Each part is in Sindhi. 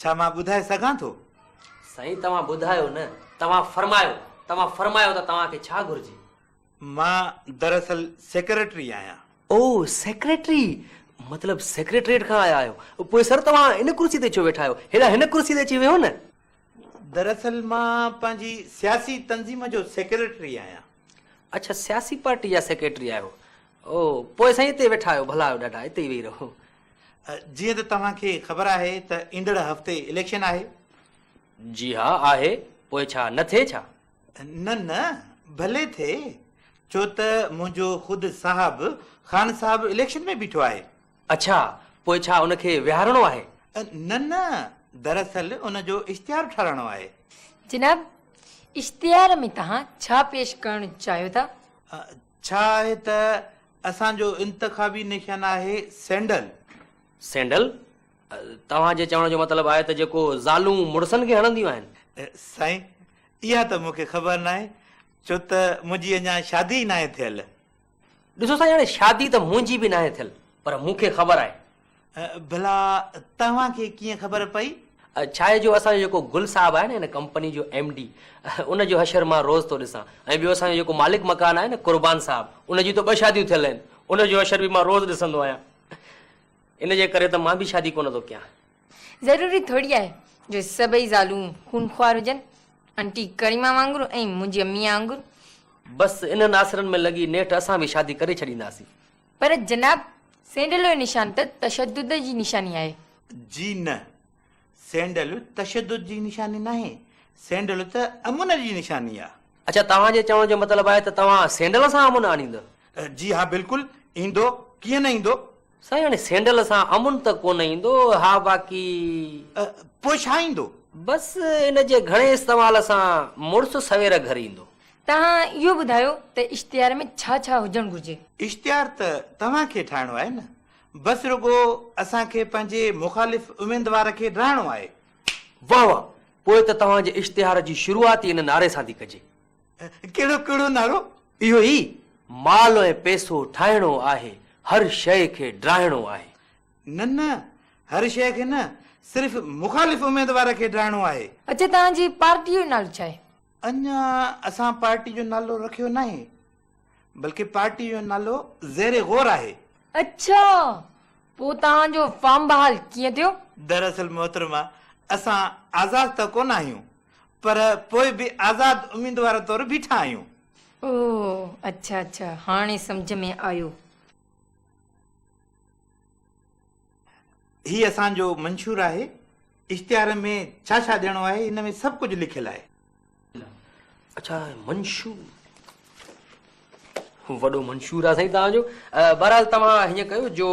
ڇا مان ٻڌائي سگهان ٿو؟ سائين توهان ٻڌايو نه توهان فرمايو توهان فرمايو ته توهان کي ڇا گهرجي؟ مان دراصل سيڪريٽري آهيان. او سيڪريٽري مطلب سيڪريٽريٽ کان آيا آهيو. پوء سر توهان ان ڪرسي تي ڇو ويٺا آهيو؟ هيڏانهن هن ڪرسي تي اچي ويهو نه. دراصل مان پنهنجي سياسي تنظيم جو سيڪريٽري آهيان. اڇا سياسي پارٽي جا سيڪريٽري آهيو. او پوء سائين اتي ويٺا آهيو ڀلا آهيو ڏاڍا اتي ئي ويهي رهو. جيئن ته توهان کي خبر آهي ته ايندڙ هفتي اليڪشن آهي. جي ها آهي پوء ڇا نه ٿئي ڇا؟ نه نه ڀلي ٿئي ڇو ته منهنجو خود صاحب خان صاحب اليڪشن ۾ بيٺو آهي. اڇا پوء ڇا ان کي ويهارڻو آهي؟ نه نه دراصل ان جو اشتهار ٺاراهڻو آهي. جناب اشتهار ۾ توهان ڇا پيش ڪرڻ چاهيو ٿا؟ ڇا آهي ته اسان جو انتخابي نشان آهي سينڊل. سينڊل؟ توهان جي چوڻ جو مطلب آهي ته جيڪو زالون مڙسن کي هڻنديون آهن. سائين اها ته مون کي خبر ناهي ڇو ته منهنجي اڃا شادي ئي ناهي ٿيل. ڏسو سائين هاڻي شادي ته منهنجي به ناهي ٿيل پر مون کي خبر آهي ڀلا توهان کي ڪيئن خبر پئي؟ ڇاهي جو اسان جو جيڪو گل صاحب آهي نه هن ڪمپني جو ايم ڊي ان جو حشر مان روز ٿو ڏسان ۽ ٻيو اسان جو جيڪو مالڪ مڪان آهي نه قربان صاحب ان جون ته ٻه شاديون ٿيل آهن ان جو حشر به مان روز ڏسندو آهيان ان جي ڪري ته مان به شادي ڪونه ٿو ڪيان. ضروري ٿوري آهي جو سڀئي زالون خون خوار هجن آنٽي ڪريما وانگر ۽ منهنجي اميء وانگر. بس انهن آسرن ۾ لڳي نيٺ اسان به شادي ڪري ڇڏينداسين. پر جناب، سينڊلو نشان ته تشدد جي نشاني آهي. جي نه، سينڊلو تشدد جي نشاني ناهي، سينڊلو ته امن جي نشاني آهي. اڇا، توهان جي چوڻ جو مطلب آهي ته توهان سينڊل سان امن آڻيندا؟ جي ها بلڪل، ايندو، ڪيئن نه ايندو. سائين هاڻي سينڊل سان امن ته ڪونه ايندو، ها باقي. پوء ڇا ايندو؟ بس ان جي گهڻي استعمال سان مڙس سوير گهر ايندو. توهان اهو ٻڌايو ته اشتهار ۾ ڇا ڇا هجڻ گهرجي؟ اشتهار ته توهان کي ٺاهڻو آهي نه بس رڳو اسان کي پنهنجي مخالف اميدوار کي ڊاهڻو آهي. واهه واهه پوء ته توهان جي اشتهار جي شروعات ئي ان نعري سان ٿي ڪجي. ڪهڙو ڪهڙو نعرو؟ اهو ئي مال ۽ پئسو ٺاهڻو آهي هر شيء کي ڊاهڻو آهي. نه نه هر شيء کي نه صرف مخالف اميدوار کي ڊاهڻو آهي. اڇا توهان جي پارٽيء جو نالو ڇا آهي؟ اڃا اسان پارٽي جو نالو رکيو ناهي بلڪه پارٽي جو نالو زير غور آهي. اڇا پوء توهان جو فارم بحال ڪيئن ٿيو؟ دراصل محترمه اسان آزاد ته ڪونه آهيون پر پوء به آزاد اميدوار طور بيٺا آهيون. او اڇا اڇا هاڻي سمجهه ۾ آيو. هي اسان جو منشور آهي. اشتهار ۾ ڇا ڇا ڏيڻو آهي هن ۾ سڀ ڪجهه لکيل آهي. اڇا منشور وڏو منشور آهي سائين توهان جو بهرحال توهان هيئن ڪيو جو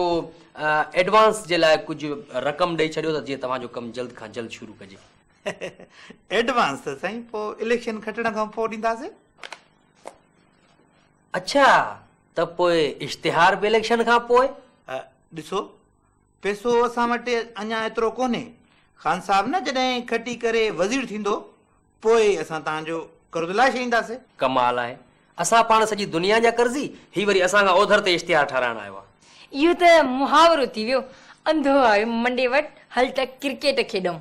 ايڊوانس جي لاء ڪجهه رقم ڏئي ڇڏيو ته جيئن توهان جو ڪم جلد کان جلد شروع ڪجي. ايڊوانس ته سائين پوء اليڪشن کٽڻ کان پوء ڏينداسين. اڇا ته پوء اشتهار به اليڪشن کان پوء؟ ڏسو پيسو اسان وٽ اڃا ايترو ڪونهي خان صاحب نه جڏهن کٽي ڪري وزير ٿيندو پوء اسان توهان جو قرض لاهي ڇڏينداسي. ڪمال آهي اسان پاڻ سڄي دنيا جا قرضي هي وري اسان کان اوڌر تي اشتهار ٺاهرائڻ آيو آ. اهو ته محاورو ٿي ويو انڌو آيو منڊي وٽ هل ته ڪرڪيٽ کيڏئون.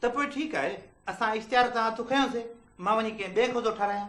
ته پوء ٺيڪ آهي اسان اشتهار تان هٿ کنيو سي مان وڃي ڪنهن ٻئي کي ٿو ٺاهرايان.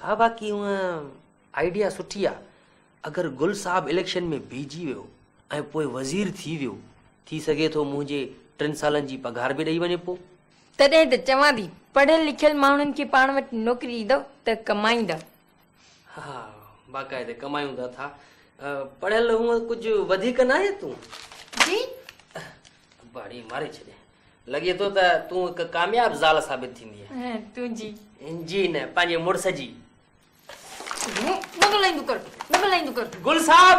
ها باقي هونئن آئيڊيا سٺي آ اگر گل صاحب اليڪشن ۾ بيهجي ويو ۽ پوء وزير ٿي ويو ٿي سگهي ٿو منهنجي ٽن سالن جي پگهار به ڏئي وڃي پو. تڏهن ته چوان ٿي پڙهيل لکيل ماڻهن کي پاڻ وٽ نوڪري ڏيندؤ ته ڪمائيندا. ها ها باقاعدي ڪمايوندا ٿا پڙهيل هونئن ڪجهه وڌيڪ ناهي تون. جي. ڀاڙي ماري ڇڏي لڳي ٿو ته تون هڪ ڪامياب زال ثابت ٿيندي تنهنجي جي نه پنهنجي مڙس جي گل صاحب